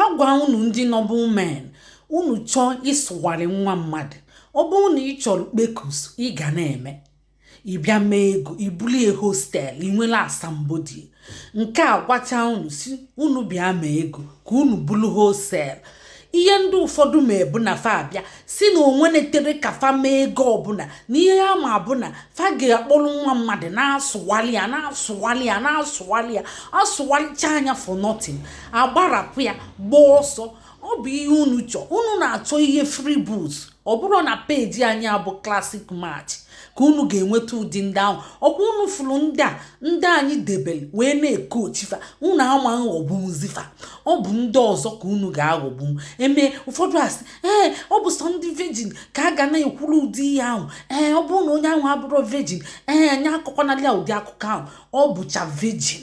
Agwa unu ndị noble men, unu chọọ ịsụgharị nwa mmadụ, ọ bụrụ na ị chọrọ kpekus ị ga na-eme ị bịa mee ego ị buru ya wholesale ị nwere asambodo ya nke a gwacha unu si unu bịa mee ego ka unu buru wholesale ihe ndị ụfọdụ ma ebu na fa abịa si na onwe na-etere ka fa mee ego ọbụla na ihe a ma abụ na fa ga-akpọrọ nwa mmadụ na-asụwali ya na-asụwali ya na-asụwali ya asụwalichaa ya for nothing agbarapụ ya gbaa ọsọ ọ bụ ihe unu chọọ unu na-achọ ihe free boots ọ bụrọ na peji anyị a bụ Classic Match ka unu ga-enweta ụdị ndị ahụ ọkwa unu fụrụ ndị a ndị anyị debere wee na-ekochi fa unu ama aghọgbuzi fa ọ bụ ndị ọzọ ka unu ga-aghọgbu e mee ụfọdụ asị ee ọ bụ sọ ndị virgin ka a ga na-ekwuru ụdị ihe ahụ ee ọ bụrụ na onye ahụ abụrọ virgin ee onye akọkwanalị ya ụdị akụkọ ahụ ọ bụcha virgin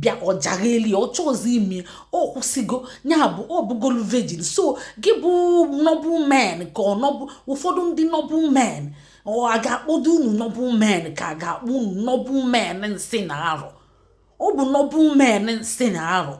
bịa ọ jaghị eli ọ chọọzi ime ọ kwụsịgo ya bụ ọ bụgolu virgin so gị bụ noble men ka ọ bụ ụfọdụ ndị noble men ọ a ga-akpọdo unu noble men ka a ga-akpọ unu noble men nsị na arụ ọ bụ noble men nsị na arụ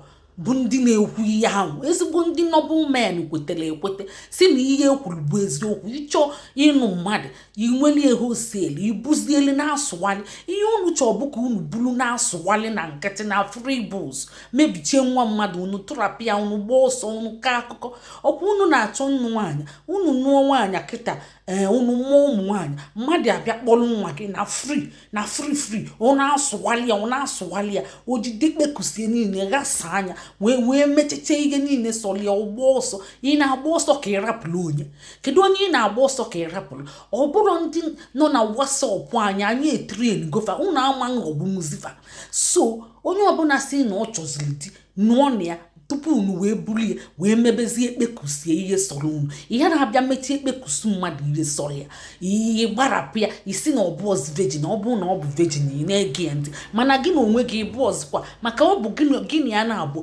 bụ ndị na-ekwu ihe ahụ ezigbo ndị noble men kwetere ekwete si na ihe e kwuru bụ eziokwu ị chọọ ịnụ mmadụ i nwelie wholesale i buzieli na-asụwali ihe unu chọọ bụ ka unu bulu na-asụwali na nkịtị na free bus mebichie nwa mmadụ unu tụrapụ ya unu gbaa ọsọ unu kọọ akụkọ ọkwa unu na-achọ nnụ nwaanyị unu nụọ nwaanyị kịta ee eh, unu mụọ ụmụ nwaanyị mmadụ abịa kpọrọ nwa gị na free na free free ọ na-asụwali ya ọ na-asụwali ya o jide kpekusie niile ghasaa anya wee mecheche ihe niile sọrọ ya ọ gbaa ọsọ ị na-agba ọsọ ka ị rapụrụ onye kedu onye ị na-agba ọsọ ka ị rapụrụ ọ bụrụ ndị nọ na WhatsApp anyị anyị etraingo fa unu ama aghọgbunwuzi fa so onye ọbụla si na ọ chọziri di nụọnụ ya tupu unu wee buru ya wee mebezie kpekusie ihe sọrọ unu ị na-abịa mechie kpekus mmadụ ihe sọrọ ya ị gbarapụ ya ị sị na ọ bụrọzi virgin ọ bụrụ na ọ bụ virgin ị na-ege ya ntị mana gị na onwe gị ị bụrọzikwa maka ọ bụ gị na ya naabọ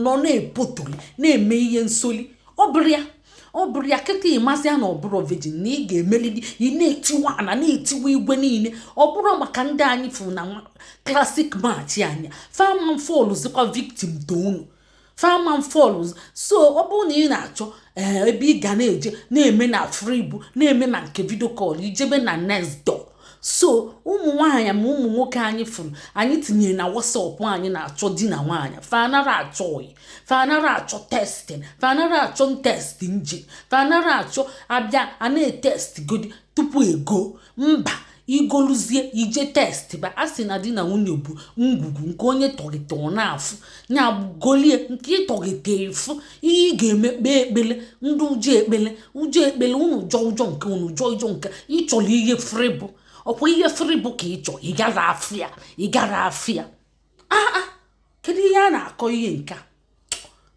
nọ na-epotoli na-eme ihe nsoli ọ bụrọ ya ọ bụrọ ya kịta ịmasị ya na ọ bụrọ virgin na ị ga-emelili ị na-etiwa ana na-etiwa igwe niile ọ bụrụ maka ndị anyị fụrụ na Classic Match anya fa ama fallzikwa victim to unu fa ama fallzi so ọ bụrụ na ị na-achọ eh, ebe ị ga na-eje na-eme na fribu na-eme na nke video call i jebe na next door so ụmụ nwaanyị ma ụmụ nwoke anyị fụrụ anyị tinyere na WhatsApp anyị na-achọ di na nwaanyị fa anara achọ ọyị fa anara achọ testing fa anara achọ test nje fa anara achọ abịa a na-etest godi tupu e go mba i goluzie i je testba a sị na di na nwunye bụ ngwugwu nke onye tọgịta ọ na-afụ nya golie nke ị tọgịta efu ihe ị ga-eme kpee ekpele ndị ụjọ ekpele ụjọ ekpele unu jọ ụjọ nke unu jọ ụjọ nke ị chọrọ ihe free bụ ọ kwa ihe free bụ ka ị chọ ị gara afịa aa ah, ah, kedu ihe a na-akọ ihe nke a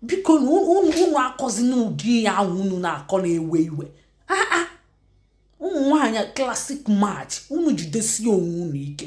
biko unu akọzina ụdị ihe ahụ unu na-akọ na-ewe iwe aa ah, ụmụ nwaanyị classic match unu jidesie onwe unu ike